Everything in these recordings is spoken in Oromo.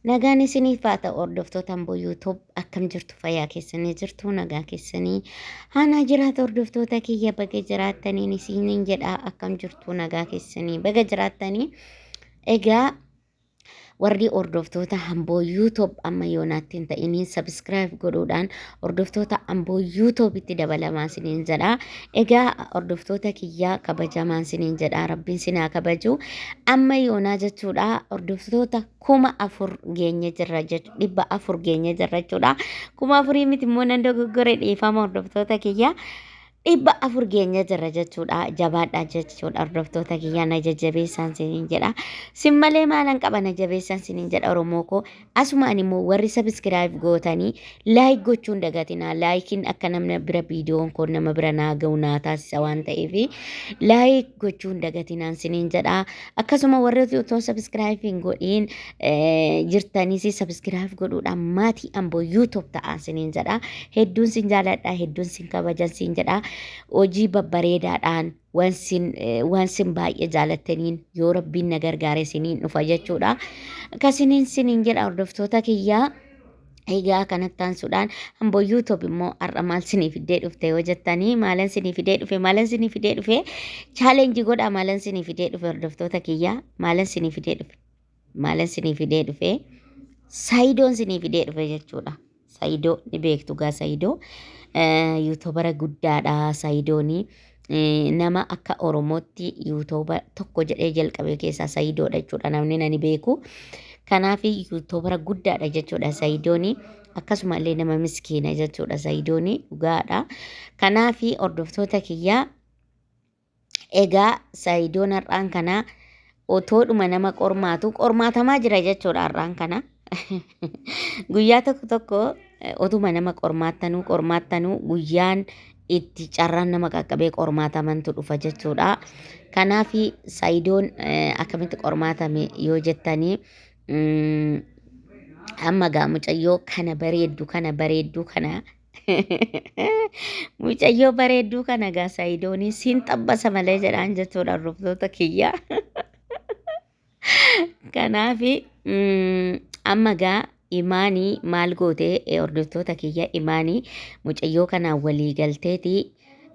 Nagaan isiniif haa ta'u hordoftoota Amboo YouTube akkam jirtu fayyaa keessanii jirtu nagaa keessanii haanaa jiraata hordoftoota kiyya baga jiraattaniin isiniin jedha akkam jirtu nagaa keessanii baga jiraattanii egaa warri hordoftoota Amboo YouTube amma yoonaatti hin ta'iniin sabiskiraayib godhuudhaan hordoftoota amboo yuutuubitti dabalamaa siniin jedha egaa hordoftoota kiyyaa kabajamaan siniin jedha rabbiin sinaa kabaju amma yoonaa jechuudha hordoftoota kuma afur geenye jirra jech- dhibba afur geenye jirra jechuudha kuma afurii miti immoo nan dogoggore dhiifama hordoftoota kiyyaa dhibba afur geenye jirra jechuudha jabaadha jechuudha hordoftoota kiyyaa na jajjabeessaan siniin jedha sin malee maalan qaba na jabeessaan siniin jedha oromoo koo asumaan immoo warri sabiskiraayib gootanii laayik gochuun dagatinaa laayikiin akka namna bira viidiyoon koo nama bira naa ga'u naa taasisa waan ta'eef laayik gochuun dagatinaan siniin jedha akkasuma warri otoo sabiskiraayib hin godhiin jirtanis sabiskiraaf godhuudhaan maatii amboo yuutuub ta'aan siniin jedha hedduun sin jaaladha hedduun sin kabajan sin jedha hojii babbareedaadhaan waan sin baay'ee jaalattaniin yoo rabbiin na gargaare siniin dhufa jechuudha akkasiniin siniin jedha hordoftoota kiyyaa egaa kanatti taansuudhaan amboo yuutuub immoo har'a maal sinii fidee dhufte yoo jettanii maalan sinii fidee dhufe maalan sinii fidee dhufe chaalenji godha maalan sinii fidee dhufe hordoftoota kiyyaa maalan sinii fidee dhufe. Maalan sinii fidee dhufee? Sayidoon sinii fidee dhufe jechuudha. Sayidoo ni beektu gaa sayidoo. Yuutubara guddaadha sayidoonii. Nama akka Oromootti yuutuuba tokko jedhee jalqabee keessaa sayidoodha jechuudha namni nani beeku. Kanaaf yuutubara guddaadha jechuudha sayidoonii. Akkasuma illee nama miskiina jechuudha sayidoonii dhugaadha. Kanaaf hordoftoota kiyyaa Egaa Sayidoon har'aan kana otoodhuma nama qormaatu qormaatamaa jira jechuudha har'aan kana. Guyyaa tokko tokko eh, otuma nama qormaattanuu qormaattanuu guyyaan itti carraan nama qaqqabee qormaatamantu dhufa jechuudha. Kanaaf Sayidoon eh, akkamitti qormaatame yoo jettanii mm, amma gaa mucayyoo kana bareeddu kana bareeddu kana Mucayyoo bareedduu kana gaa Sayidoonii siin xabbasa malee jedhaan jechuudha hordoftoota kiyya. Kanaaf amma gaa imaanii maal goote eh, hordoftoota kiyya imaanii mucayyoo kanaan walii galteeti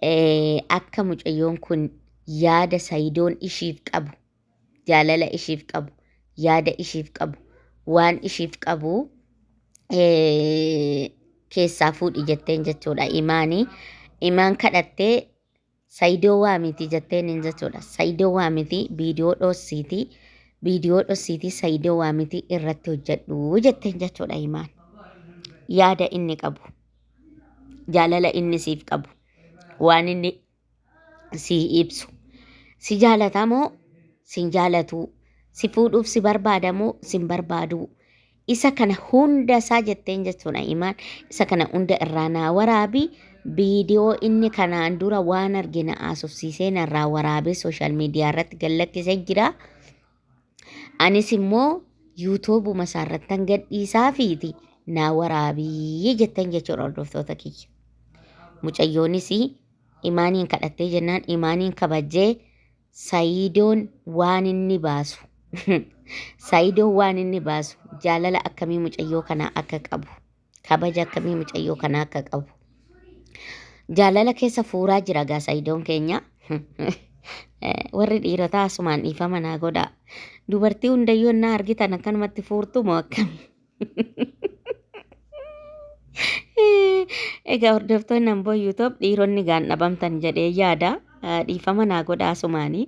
eh, akka mucayyoon kun yaada Sayidoon ishiif qabu jaalala ishiif qabu, yaada ishiif qabu, waan ishiif qabu eh, keessaa fuudhi jetteen jechuudha imaanii. Imaan kadhattee sayidoo waa miti jetteen hin jechuudha. Sayidoo waa miti viidiyoo dhoosiiti. Viidiyoo dhoosiiti sayidoo waa miti irratti hojjedhu jetteen jechuudha imaan. Yaada inni qabu, jaalala inni siif qabu, waan inni si ibsu. Si jaalata moo sin jaalatuu? Si fuudhuuf si barbaada moo sin barbaaduu? Isa kana hunda isaa jetteen jechuudha imaan. Isa kana hunda irraa naa waraabi. Viidiyoo inni kanaan dura waan arge na haasofsiisee narraa waraabee sooshaal miidiyaa irratti gallakkisee jira. Anis immoo yuutuubuma isaa irrattan gadhiisaa fiiti naa waraabii jettan jechuudha hordoftoota kiyya. Mucayyoonis imaaniin kadhattee jennaan imaaniin kabajjee sayiidoon waan inni baasu sayiidoon waan inni baasu jaalala akkamii mucayyoo kanaa akka qabu. Kabaja akkamii mucayyoo kana akka qabu. Jaalala keessa fuuraa jira gaa sayidoon keenya. Warri dhiirotaa asumaan dhiifama naa godhaa. Dubartii hundayyuu ennaa argitan akkanumatti fuurtu moo akkami? Egaa hordoftoonni Amboo YouTube dhiironni gaan dhabamtan jedhee yaada. Dhiifama naa godhaa asumaanii.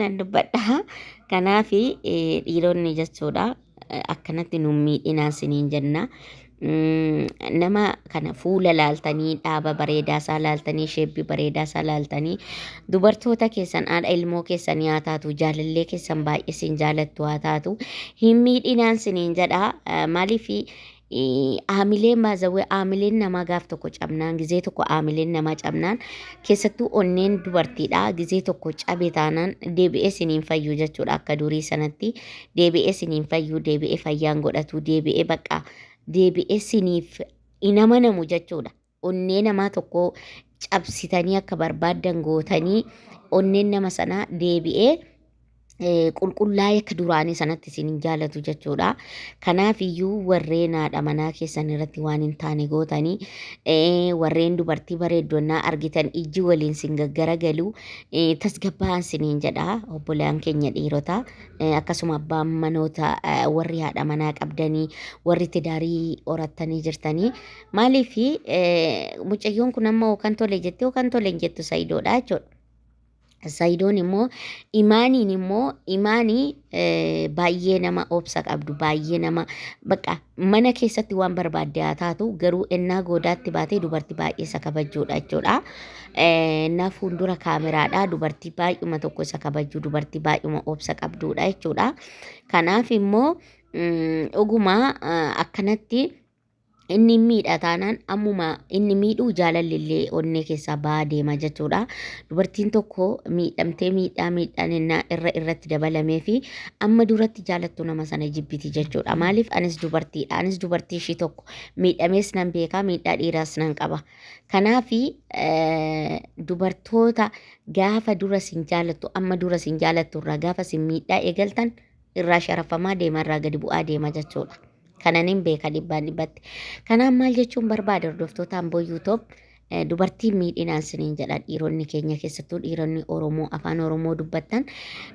Nan dubbadha. Kanaaf dhiironni jechuudha akkanatti nu miidhinaa siniin jenna. Nama kana fuula laaltanii dhaaba bareedaa isaa laaltanii sheebbii bareedaa isaa laaltanii dubartoota keessan haadha ilmoo keessan yaa taatu jaalallee keessan baay'ee sin jaalattu haa taatu hin miidhinaan siniin jedha maaliif Aamilee maazawwee aamileen namaa gaaf tokko cabnaan gizee tokko aamileen namaa cabnaan keessattuu onneen dubartiidha gizee tokko cabe taanaan deebi'ee siniin fayyuu jechuudha akka durii sanatti deebi'ee siniin fayyuu deebi'ee fayyaan godhatu deebi'ee bakka deebi'ee siniif hin amanamu jechuudha. onnee namaa tokkoo cabsitanii akka barbaaddan gootanii onneen nama sanaa deebi'ee eh, qulqullaa'ee akka duraanii sanatti isin hin jaalatu jechuudha. Kanaaf iyyuu warreen haadha manaa keessan irratti waan hin taane gootanii eh, warreen dubartii bareeddu ennaa argitan ijji waliin sin gaggaragalu eh, tasgabbaa'aa isiniin jedha obbolaan keenya dhiirota eh, akkasuma abbaan manoota eh, warri haadha manaa qabdanii warri tidaarii horattanii jirtanii Maaliif mucayyoon kun amma hookan tole jettee hookan tole hin jettu sayidoodha jechuudha. Sayidoon immoo imaaniin immoo imaanii baay'ee nama obsa qabdu baay'ee nama bakka mana keessatti waan barbaadde haa taatu garuu ennaa goodaatti baatee dubartii baay'ee isa kabajjuudha jechuudha. Ennaa fuuldura kaameraadha dubartii baay'uma tokko isa kabajju dubartii baay'uma obsa qabduudha jechuudha. Kanaaf immoo dhuguma akkanatti. Inni hin miidha taanaan ammuma inni miidhu jaalalli illee onnee keessaa ba'aa deema jechuudha. Dubartiin tokko miidhamtee miidhaa miidhaan innaa irra irratti dabalamee fi amma duratti jaalattu nama sana jibbiti jechuudha. Maaliif anis dubartiidha. Anis dubartii ishii tokko miidhamees nan beekaa miidhaa dhiiraas nan qaba. Kanaaf dubartoota gaafa dura sin jaalattu amma dura sin jaalattu irraa gaafa sin miidhaa eegaltan irraa sharafamaa deema irraa gadi bu'aa deema jechuudha. Kanan hin beeka dhibbaan dhibbatti. Kanaan maal jechuun barbaada hordoftoota Amboo Yuutoob dubartiin miidhinaan siniin jedha dhiironni keenya keessattuu dhiironni Oromoo afaan Oromoo dubbattan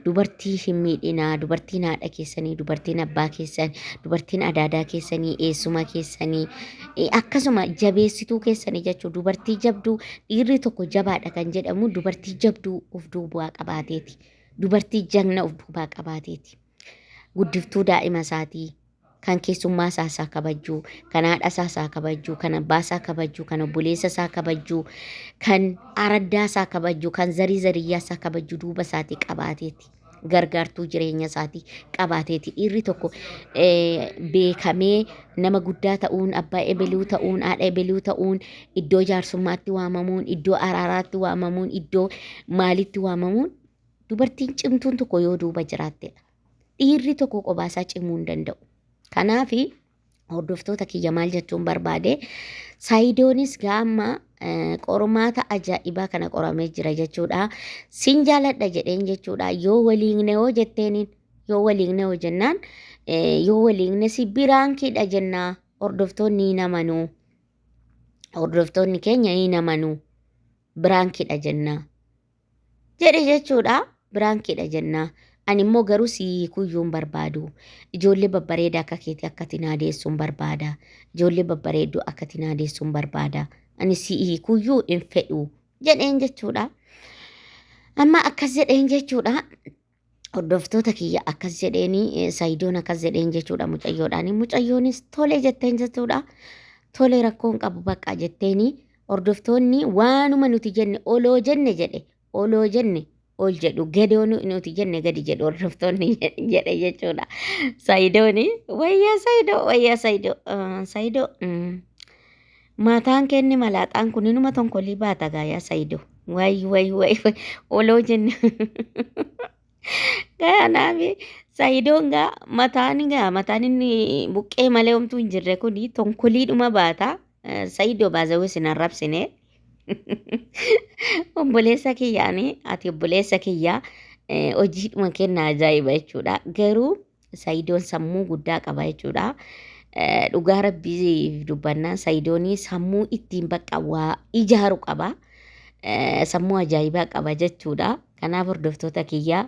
dubartii hin miidhinaa dubartiin haadha keessanii dubartiin abbaa keessanii dubartiin adaadaa keessanii eessuma keessanii eh, akkasuma jabeessituu keessanii jechuun dubartii jabduu dhiirri tokko jabaadha kan jedhamu dubartii jabduu of duubaa qabaateeti. Dubartii jagna of duubaa qabaateeti. Guddiftuu daa'ima isaatii. Kan keessummaa isaa isaa kabajjuu, kan haadha isaa isaa kabajjuu, kan abbaa isaa kabajjuu, kan obboleessa isaa kabajjuu, kan araddaa isaa kabajjuu, kan zarii zariyyaa isaa kabajjuu duuba isaatii qabaateeti. Gargaartuu jireenya isaatii qabaateeti. Dhiirri tokko eh, beekamee nama guddaa ta'uun, abbaa ebeluu ta'uun, haadha ebeluu ta'uun Iddoo jaarsummaatti waamamuun, iddoo araaraatti waamamuun, iddoo maalitti waamamuun dubartiin cimtuun tokko yoo duuba jiraattedha. Dhiirri tokko qobaasaa cimuu hin danda'u. Kanaaf hordoftoota kiyya maal jechuun barbaade saayidoonis gaamma qormaata ajaa'ibaa kana qoramee jira jechuudha. Sin jaaladha jedheen jechuudha. Yoo waliigne hoo jetteeniin yoo waliigne hoo jennaan yoo waliigne si biraan kiidha jennaa hordoftoonni hin amanuu. hordoftoonni keenya hin amanuu biraankidha jennaa jedhe jechuudha biraankidha jennaa ani immoo garuu si hiikuyyuun barbaadu ijoollee babbareeda akka keetii akkati naa deessuun barbaada ijoollee babbareedduu akkati naa deessuun barbaada ani si hiikuyyuu hin fedhu jedheen jechuudha amma akkas jedheen jechuudha hordoftoota kiyya akkas jedheeni sayidoon akkas jedheen jechuudha mucayyoodhaan mucayyoonis tole jetteen jechuudha tole rakkoon qabu bakka jetteeni hordoftoonni waanuma nuti jenne oloo jenne jedhe oloo jenne ol jedhu gadoo nuti jenne gadi jedhu hordoftoonni jedhe jechuudha sayidooni wayyaa sayidoo wayyaa sayidoo sayidoo Maataan keenni malaaxaan kun inuma tonkolii baata gaa yaa sayido. Wayi wayi wayi wayi oloo jenne. Kanaaf sayidoon gaa mataan gaa mataan inni buqqee malee homtuu hin jirre kun tonkoliidhuma baata. Eh, Sayidoo baazawee sin arrabsine. Obboleessa kiyyaani ati obboleessa kiyyaa eh, hojiidhuma kenna ajaa'iba jechuudha. Garuu Sayidoon sammuu guddaa qaba jechuudha. Dhugaa rabbiif dubbannaan sayidoonii sammuu ittiin bakka waa ijaaru qaba. Sammuu ajaa'ibaa qaba jechuudha. Kanaaf hordoftoota kiyyaa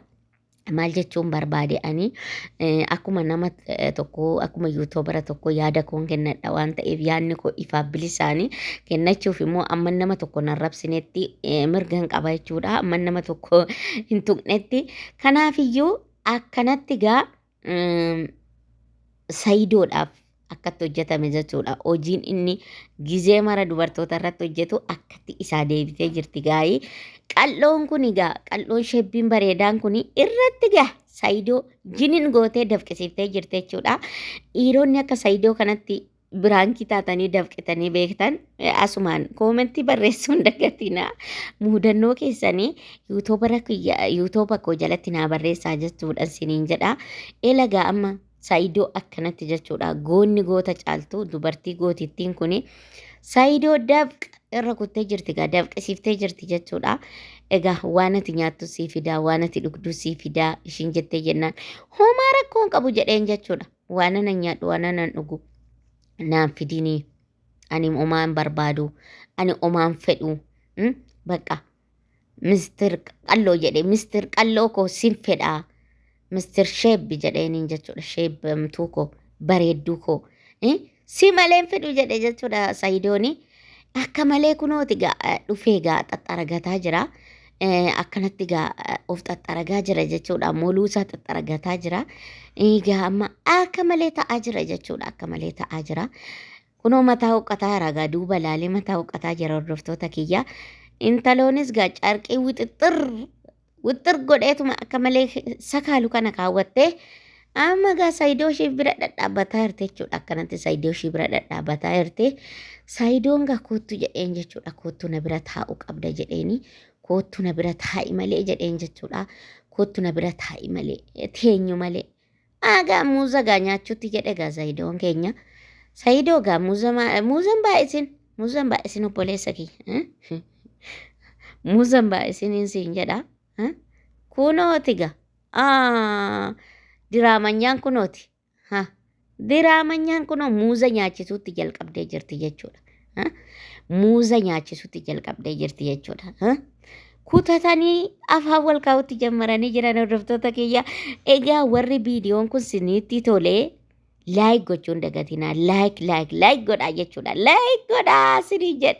maal jechuun barbaade ani akkuma nama tokko akkuma yuutoobara tokko yaada koon kennadha waan ta'eef yaadni koo ifaaf bilisaanii kennachuuf immoo amma nama tokko hin arrabsinetti mirgan qaba jechuudha amma nama tokko hin tuqnetti kanaafiyyuu Akkanatti gaa sayidoodhaaf akkatti hojjetame jechuudha. Hojiin inni gizee mara dubartoota irratti hojjetu akkatti isaa deebitee jirti gaa'ii. Qal'oon kun egaa qal'oon shebbiin bareedaan kun irratti gaa sayidoo jinin gootee dafqisiiftee jirti jechuudha. Dhiironni akka sayidoo kanatti biraankii taatanii dafqitanii beektan asumaan koomentii barreessuun dagatinaa muudannoo keessanii yuutuubara kiyya yuutuuba koo jalatti naa barreessaa jechuudhaan siniin jedha elagaa amma saayidoo akkanatti jechuudha goonni goota caaltu dubartii gootittiin kun saayidoo dafqa irra kuttee jirti gaa dafqisiiftee jirti jechuudha egaa waan ati nyaattu sii fidaa waan ati dhugdu sii fidaa ishiin jettee jennaan homaa rakkoon qabu jedheen jechuudha waanana nyaadhu waananan dhugu naan fidinii ani omaan barbaadu ani omaan fedhu mm, baqa mistir qalloo jedhe mistir qalloo koo sin fedhaa mistir sheebbi jedheeniin jechuudha sheebbamtuu koo bareedduu koo eh, Si malee hin fidhu jedhe jechuudha Sayidooni. Akka malee kunooti gaa eh, dhufee gaa xaxxaragataa jira. Eh, Akkanatti gaa eh, of xaxxaragaa jira jechuudha. Moluusaa xaxxaragataa jira. Egaa amma akka malee ta'aa jira jechuudha. Akka malee ta'aa jira. Kunoo mataa huqqataa jira gaa duuba ilaalee mataa huqqataa jira hordoftoota kiyya. Intaloonis gaa carqii wixixxir wixxir godheetuma akka malee sakaalu kana kaawwattee amma gaa saayidoo ishee bira dhadhaabataa jirti jechuudha akkanatti saayidoo ishee bira dhadhaabataa jirti saayidoon gaa koottu jedheen jechuudha koottu na bira taa'u qabda jedheeni koottu na bira taa'i malee jedheen jechuudha koottu na bira taa'i malee teenyu malee Aagaa muuza gaa nyaachuutti jedhe gaa Sayidoon keenya. Sayidoo gaa muuza maa- muuzan baay'isin muuzan baay'isin obboleessa kiyya. eh? Muuzan baay'isiniin siin jedha. eh? Kunooti gaa. Ah, Diraamanyaan kunooti. Ha. Diraamanyaan kunoo muuza nyaachisuutti jalqabdee jirti jechuudha. muuza nyaachisutti jalqabdee jirti jechuudha. Kutatanii afaan wal kaa'utti jammaranii jiran hordoftoota kiyya. Egaa warri viidiyoon kun sinitti tolee laayik gochuun dagatinaa laayik laayik laayik godhaa jechuudha. Laayik godhaa sinii jedha.